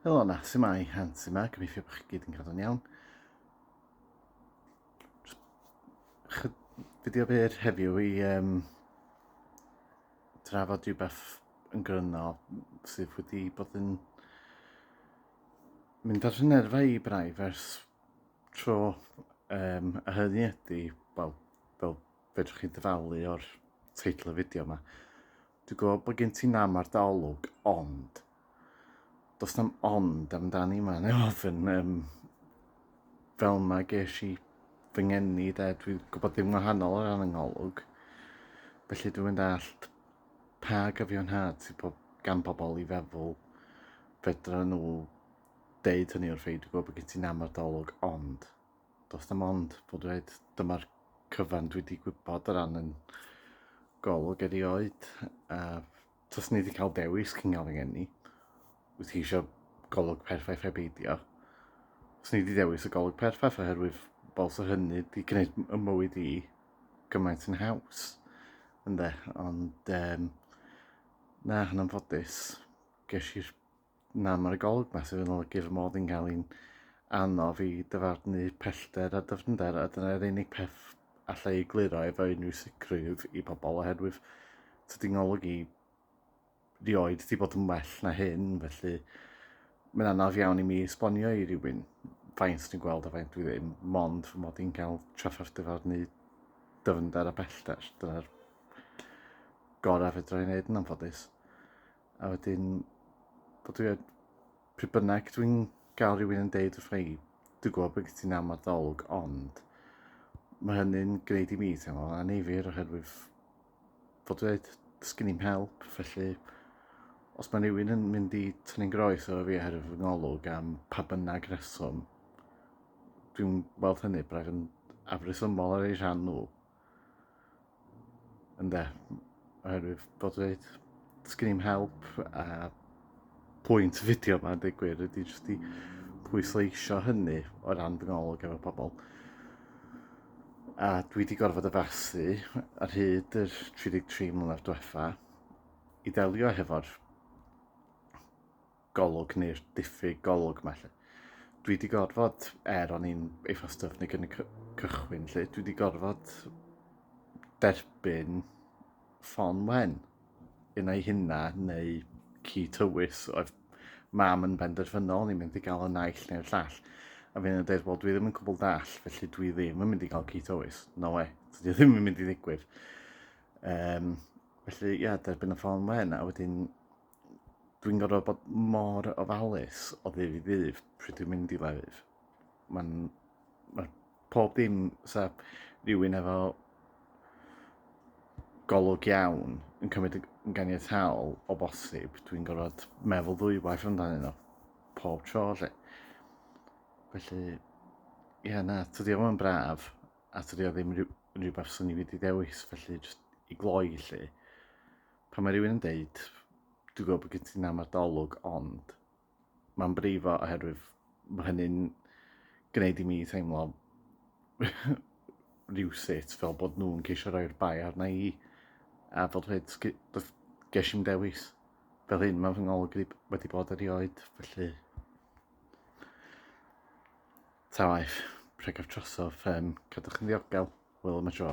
Helo na, sy'n mai, han, sy'n mai, gobeithio bod chi gyd yn cadw'n iawn. Fideo byr heddiw i um, drafod rhywbeth yn gryno sydd wedi bod yn mynd ar hyn erfa i braidd ers tro um, a hynny ydy, wel, fel Fedrwch chi ddyfalu o'r teitl y fideo yma. Dwi'n gwybod bod gen ti nam ar daolwg, ond... Does na'm ond amdani yma, neu ofyn, um, fel yma ges i fy ngeni de, dwi'n gwybod dim wahanol o ran yngolwg. Felly dwi'n mynd allt pa gyfiawnhad sydd bob, gan bobl i feddwl fedra nhw deud hynny wrth ei, dwi'n gwybod bod gen ti nam ar daolwg, ond... Does dim ond bod dweud dyma'r cyfan dwi wedi gwybod o ran yn golwg erioed. Uh, Tys ni wedi cael dewis cyngal yng Ngeni. Wyt ti eisiau golwg perffaith heb eidio? Tys ni wedi dewis y golwg perffaith oherwydd fel sy'n hynny wedi gwneud y mywyd i gymaint yn haws. Ynde, ond um, na, yn anffodus, ges i'r Na, mae'r golwg ma sydd yn olygu fy mod yn cael i'n anodd i dyfarnu pellter a dyfnder, a dyna'r unig peth allai ei gliro efo unrhyw sicrwydd i bobl, oherwydd tydi ngolwg i rioed wedi bod yn well na hyn, felly mae'n anodd iawn i mi esbonio i rywun faint dwi'n gweld a faint dwi ddim, mond fy mod i'n cael trafferth dyfarnu dyfnder a bellter. Dyna'r gorau fedra i wneud yn anffodus. A wedyn, bod dwi yn... pryd bynnag dwi'n gael rhywun yn deud wrth i, dwi'n gwybod bod gen ti'n amod ddolwg, ond mae hynny'n gwneud i mi teimlo'n anifyr oherwydd fod dweud, sgyn i'n help, felly os mae rhywun yn mynd i tynnu'n groes o fi oherwydd fy ngolwg am pa bynnag reswm, dwi'n weld hynny braidd yn afresymol ar ei rhan nhw. Ynde, oherwydd bod dweud, sgyn i'n help a pwynt y fideo yma, dweud gwir, ydy jyst i pwysleisio hynny o ran fy ngolwg efo pobl. A dwi wedi gorfod addasu ar hyd yr 33 mlynedd diwetha i delio hefo'r golwg neu'r diffyg golwg ma lle. Dwi wedi gorfod, er o'n i'n eitha styfnig yn y cychwyn lle, dwi wedi gorfod derbyn ffon wen yn ei hynna neu ci tywys oedd mam yn benderfynol ni'n mynd i gael y naill neu'r llall. A fi'n yn dweud, wel dwi ddim yn cwbl dall, felly dwi ddim yn mynd i gael ci tywys. No we, dwi ddim yn mynd i ddigwydd. Um, felly, ia, yeah, derbyn y ffon wen, a wedyn dwi'n gorfod bod mor ofalus o ddydd i ddydd pryd dwi'n mynd i lefydd. Mae'n... Mae pob dim sa rhywun efo golwg iawn yn cymryd yn ganiataol o bosib, dwi'n gorfod meddwl ddwy waith amdano nhw pob tro lle. Felly, ie na, tydi o yn braf, a tydi o ddim rhywbeth sy'n ni wedi dewis, felly jyst i gloi lle. Pan mae rhywun yn deud, dwi'n gwybod bod gen ti nam ar dolwg, ond mae'n brifo oherwydd mae hynny'n gwneud i mi teimlo rhywsut fel bod nhw'n ceisio rhoi'r bai arna i a fel dweud ges i'n dewis fel hyn mae fy ngolwg wedi bod erioed felly ta waith pregaf trosof um, cadwch yn ddiogel wel am y tro